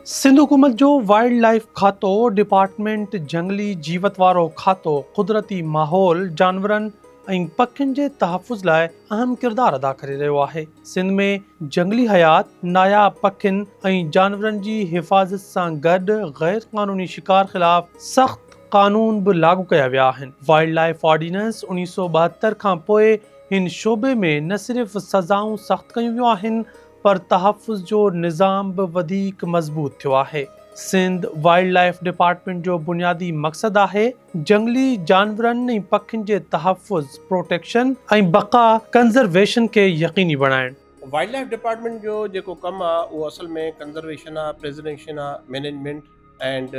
سنڌ حڪومت جو wildlife کاتو، ڊپارٽمينٽ جهنگلي جيوت وارو کاتو قدرتي ماحول، جانورن ۽ پکين جي تحفظ لاء اهم ڪردار ادا ڪري رهيو آهي. سنڌ ۾ جهنگلي حيات، ناياب پکين ۽ جانورن جي حفاظت سان گڏ غير قانوني شڪار خلاف سخت قانون به لاڳو ڪيا ويا آهن. وائلڊ لائيف آرڊيننس اڻيهه سؤ ٻاهتر کان پوء هن شعبي ۾ نه صرف سزائون سخت ڪيون ويون آهن پر تحفظ جو نظام به وڌيڪ مضبوط ٿيو آهي. سنڌ وائلڊ لائيف ڊپارٽمينٽ جو بنيادي مقصد آهي. جهنگلي جانورن ۽ پکين جي تحفظ، Protection، ۽ بقا، Conservation، کي يقيني بڻائڻ. وائلڊ لائيف ڊپارٽمينٽ جو جيڪو ڪم آ اهو اصل ۾ ڪنزرويشن آ، پريزرويشن آ، مينيجمينٽ اينڊ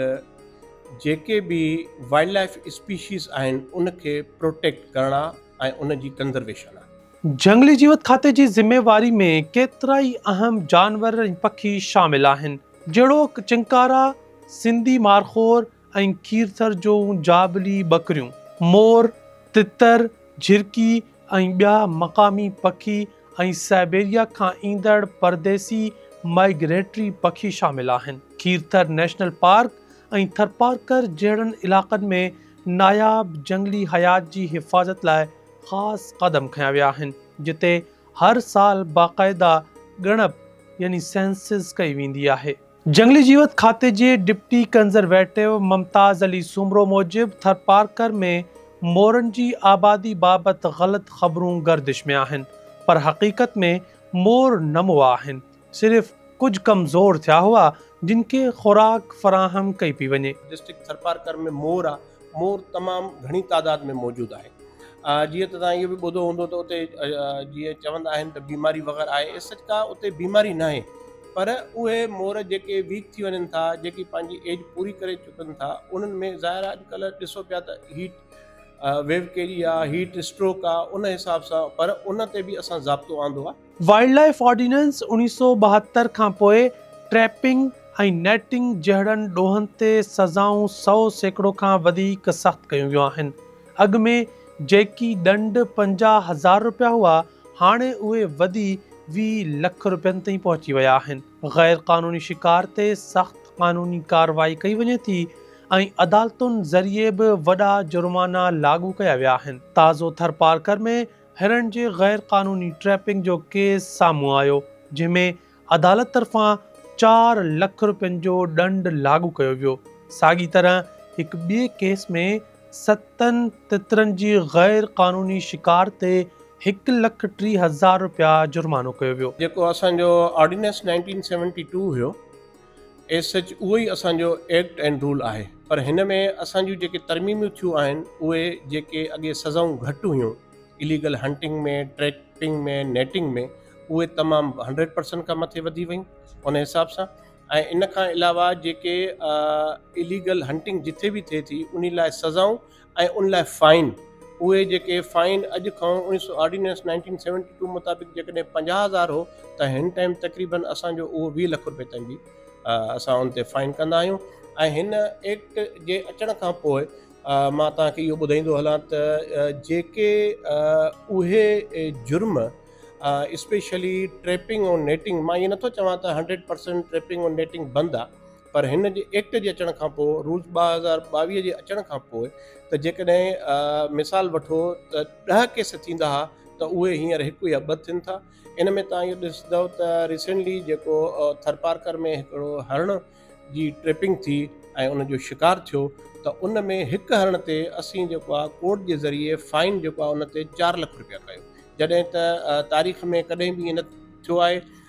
جيڪي به وائلڊ لائيف اسپيشيز آهن ان کي پروٽيڪٽ ڪرڻ آ ۽ ان جي ڪنزرويشن آ. جهنگلي جيوت کاتي جي ذميواري ۾ ڪيترائي اهم جانور ۽ پکي شامل آهن جهڙوڪ چنڪارا، سنڌي مارخور، ۽ کيرٿر جون جابلي ٻڪريون، مور، تتر، جهرڪي ۽ ٻيا مقامي پکي ۽ سائبيريا کان ايندڙ پرديسي Migratory پکي شامل آهن. کيرٿر نيشنل پارڪ ۽ ٿرپارڪر جهڙن علائقن ۾ ناياب جهنگلي حيات جي حفاظت لاء خاص قدم کنيا ويا آهن، جتي هر سال باقاعده ڳڻپ يعني Census ڪئي ويندي آهي. جهنگلي جيوت کاتي جي ڊپٽي ڪنزرويٽو ممتاز علي سومرو موجب ٿرپارڪر ۾ مورن جي آبادي بابت غلط خبرون گردش ۾ آهن پر حقيقت ۾ مور نه مئا آهن صرف ڪجهه ڪمزور ٿيا هئا جن کي خوراڪ فراهم ڪئي پئي وڃي. ڊسٽرڪٽ ٿرپارڪر ۾ مور آهي مور تمام گهڻي تعداد ۾ موجود آهي جيئن ته توهان اهو به ٻڌو هوندو ته اتي جيئن چوندا آهن ته بيماري وغيره آهي اي سچ ڪا اتي بيماري ناهي پر اهي مور جيڪي ويڪ ٿي وڃن ٿا جيڪي پنهنجي ايج پوري ڪري چڪن ٿا انهن ۾ ظاهر آهي اڄڪلهه ڏسو پيا ته هيٽ ويو ڪهڙي آهي هيٽ اسٽروڪ آهي ان حساب سان پر ان تي به اسان ضابطو آندو آهي وائلڊ لائيف آرڊيننس اوڻيهه سؤ ٻاهتر کان پوء ٽريپنگ ۽ نيٽنگ جهڙن ڏوهن تي سزائون سؤ سيڪڙو کان وڌيڪ سخت ڪيون ويون آهن. اڳ ۾ جيڪي ڏنڊ پنجاهه هزار رپيا هئا، هاڻي اهي وڌي ويهه لک رپين تائين پهچي ويا آهن. غير قانوني شڪار تي سخت قانوني ڪارروائي ڪئي وڃي ٿي ۽ عدالتن ذريعي به وڏا جرمانا لاڳو ڪيا ويا آهن. تازو ٿرپارڪر ۾ هرڻ جي غير قانوني ٽريپنگ جو ڪيس سامهون آيو جنهن ۾ عدالت طرفان چار لک رپين جو ڏنڊ لاڳو ڪيو ويو، ساڳي طرح هڪ ٻئي ڪيس ۾ ستن تترن جي غير قانوني شڪار تي هڪ لک ٽي هزار رپيا جرمانو ڪيو ويو. جيڪو اسان جو آرڊيننس نائنٽين سيونٽي ٽو هيو. ايز سچ اهو ئي اسان جو ايڪٽ اينڊ رول آهي پر هن ۾ اسان جون جيڪي ترميميون ٿيون آهن اهي جيڪي اڳي سزائون گهٽ هيون اليگل هنٽنگ ۾ ٽريپنگ ۾ نيٽنگ ۾ اهي تمام هنڊريڊ پرسنٽ کان مٿي وڌي ويون ان حساب سان ۽ ان کان علاوه جيڪي اليگل هنٽنگ جتي به ٿئي ٿي ان لاء سزائون ۽ ان لاء فائن، اهي جيڪي فائن اڄ کانئن اڻيهه سؤ آرڊيننس نائنٽين سيونٽي ٽو مطابق جيڪڏهن پنجاهه هزار هو ته هن ٽائيم تقريبن اسان جو اهو ويهه لک رپئي تائين به اسان ان تي فائن ڪندا آهيون ۽ هن ايڪٽ جي اچڻ کان پوء مان توهان کي اهو ٻڌائيندو هلان ته جيڪي اهي جرم اسپيشلي ٽريپنگ ۽ نيٽنگ مان اهي نٿو چوان ته هنڊريڊ پرسنٽ ٽريپنگ ۽ نيٽنگ بند آهي پر هن جي ايڪٽ جي اچڻ کان پوء رولز ٻه هزار ٻاويهه جي اچڻ کان پوء ته جيڪڏهن مثال وٺو ته ڏهه ڪيس ٿيندا ها ته اهي هينئر هڪ يا ٻه ٿين ٿا ان ۾ توهان اهو ڏسندو ته ريسينٽلي جيڪو ٿرپارڪر ۾ هڪڙو هرڻ جي ٽريپنگ ٿي ۽ ان جو شڪار ٿيو ته ان ۾ هڪ هرڻ تي اسين جيڪو آهي ڪورٽ جي ذريعي فائن جيڪو آهي ان تي چار لک رپيا ڪيو جڏهن ته تاريخ ۾ ڪڏهن به ائين نه ٿيو آهي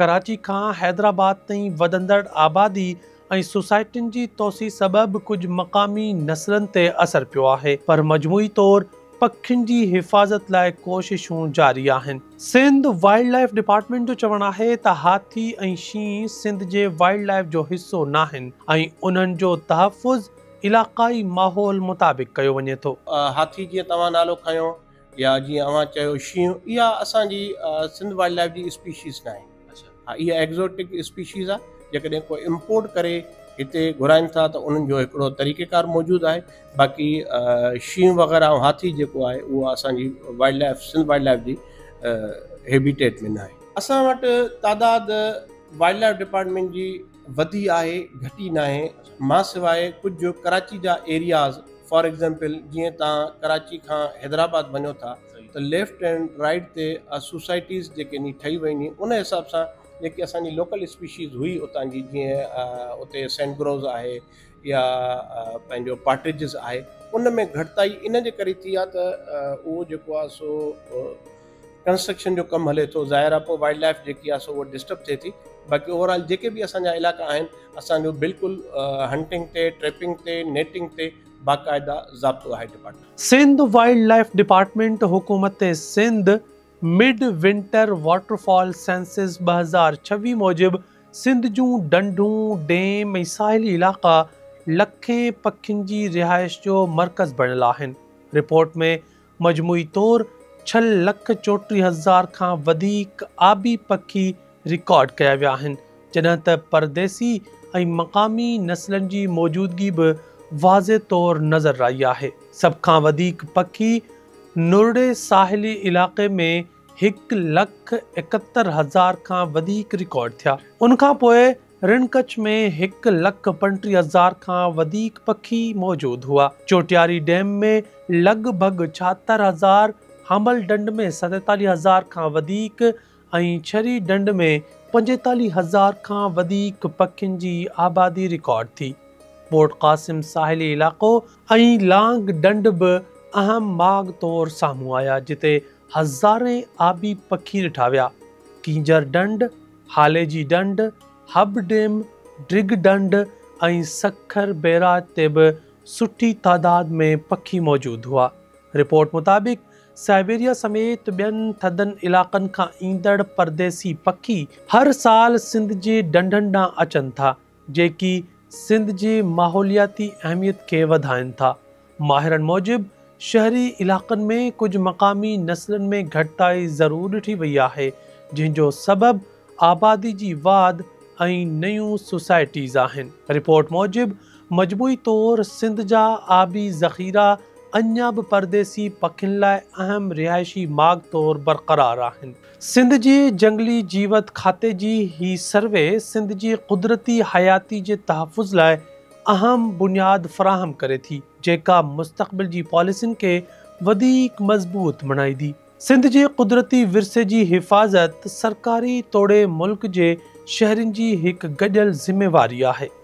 ڪراچي کان حيدرآباد تائين وڌندڙ آبادي ۽ سوسائٽين جي توسيع سبب ڪجهه مقامي نسلن تي اثر پيو آهي پر مجموعي طور پکين جي حفاظت لاء ڪوششون جاري آهن. سنڌ وائلڊ لائيف ڊپارٽمينٽ جو چوڻ آهي ته هاٿي ۽ شينهن سنڌ جي وائلڊ لائيف جو حصو ناهن ۽ انهن جو تحفظ علاقائي ماحول مطابق ڪيو وڃي ٿو. هاٿي جيئن توهان نالو کنيو. يا جيئن اوهان چيو شينهن اها اسان جي سنڌ وائلڊ لائف جي اسپيشيز ناهي اها ايگزوٽڪ اسپيشيز آهي جيڪڏهن ڪو امپورٽ ڪري هتي گهرائن ٿا ته انهن جو هڪڙو طريقي ڪار موجود آهي باقي شينهن وغيره ۽ هاٿي جيڪو آهي اهو اسان جي wildlife Sindh wildlife جي هيبيٽيٽ ۾ ناهي اسان وٽ تعداد وائلڊ لائف ڊپارٽمينٽ جي وڌي آهي گهٽي ناهي مان سواء ڪجهه ڪراچي جا ايرياز فار ايگزيمپل جيئن تان ڪراچي کان حيدرآباد وڃو ٿا ته ليفٽ اينڊ رائيٽ تي سوسائٽيز جيڪي ني ٺهي ويون ني ان حساب سان جيڪي اسان جي لوڪل اسپيشيز هئي اتان جي جيئن اتي سينٽ گروز آهي يا پنهنجو پاٽرجز آهي ان ۾ گهٽتائي ان جي ڪري ٿي آهي ته اهو جيڪو آهي سو ڪنسٽرڪشن جو ڪم هلي ٿو ظاهر آهي پوء وائلڊ لائف جيڪي آهي سو اها ڊسٽرب ٿئي ٿي باقي اوور آل جيڪي به اسان جا علائقا آهن اسان جو بلڪل هنٽنگ تي ٽريپنگ تي نيٽنگ تي باقاعده ضابطو آهي department Sindh wildlife department حڪومت Sindh mid winter waterfowl census ٻه هزار ڇويهه موجب سنڌ جون ڍنڍون، ڊيم ۽ ساحلي علائقا لکين پکين جي رهائش جو مرڪز بڻيل آهن. رپورٽ ۾ مجموعي طور ڇهه لک چوٽيهه هزار کان وڌيڪ آبي پکي رڪارڊ ڪيا ويا آهن، جڏهن ته پرديسي ۽ مقامي نسلن جي موجودگي به واضح طور نظر آئي آهي. سڀ کان وڌيڪ پکي نورڙي ساحلي علائقي ۾ هڪ لک ايڪهتر هزار کان وڌيڪ رڪارڊ ٿيا. ان کان پوء رڻ ڪڇ ۾ هڪ لک پنٽيهه هزار کان وڌيڪ پکي موجود هئا. چوٽياري ڊيم ۾ لڳ ڀڳ ڇاهتر هزار، هامل ڍنڍ ۾ ستيتاليهه هزار کان وڌيڪ ۽ ڇري ڍنڍ ۾ پنجيتاليهه هزار کان وڌيڪ پکين جي آبادي رڪارڊ ٿي. پورٽ قاسم ساحلي علائقو ۽ لانگ ڍنڍ به اهم ماڳ طور سامهون آيا جتي هزارين آبي پکي ڏٺا ويا. ڪينجهر ڍنڍ، هالي جي ڍنڍ، هب ڊيم، ڊرگ ڍنڍ ۽ سکر بيراج تي به سٺي تعداد ۾ پکي موجود هئا. رپورٽ مطابق سائبيريا سميت ٻين ٿڌن علائقن کان ايندڙ پرديسي پکي هر سال سنڌ جي ڍنڍن ڏانهن اچن ٿا جيڪي سنڌ جي ماحولياتي اهميت کي وڌائن ٿا. ماهرن موجب شهري علائقن ۾ ڪجهه مقامي نسلن ۾ گهٽتائي ضرور ڏٺي وئي آهي، جنهن جو سبب آبادي جي واڌ ۽ نيون سوسائٽيز آهن. رپورٽ موجب مجموعي طور سنڌ جا آبي ذخيرا اڃا به پرديسي پکين لاء اهم رهائشي ماڳ طور برقرار آهن. سنڌ جي جهنگلي جيوت کاتي جي هي سروي سنڌ جي قدرتي حياتي جي تحفظ لاء اهم بنياد فراهم ڪري ٿي، جيڪا مستقبل جي پاليسين کي وڌيڪ مضبوط بڻائيندي. سنڌ جي قدرتي ورثي جي حفاظت سرڪاري توڙي ملڪ جي شهرين جي هڪ گڏيل ذميواري آهي.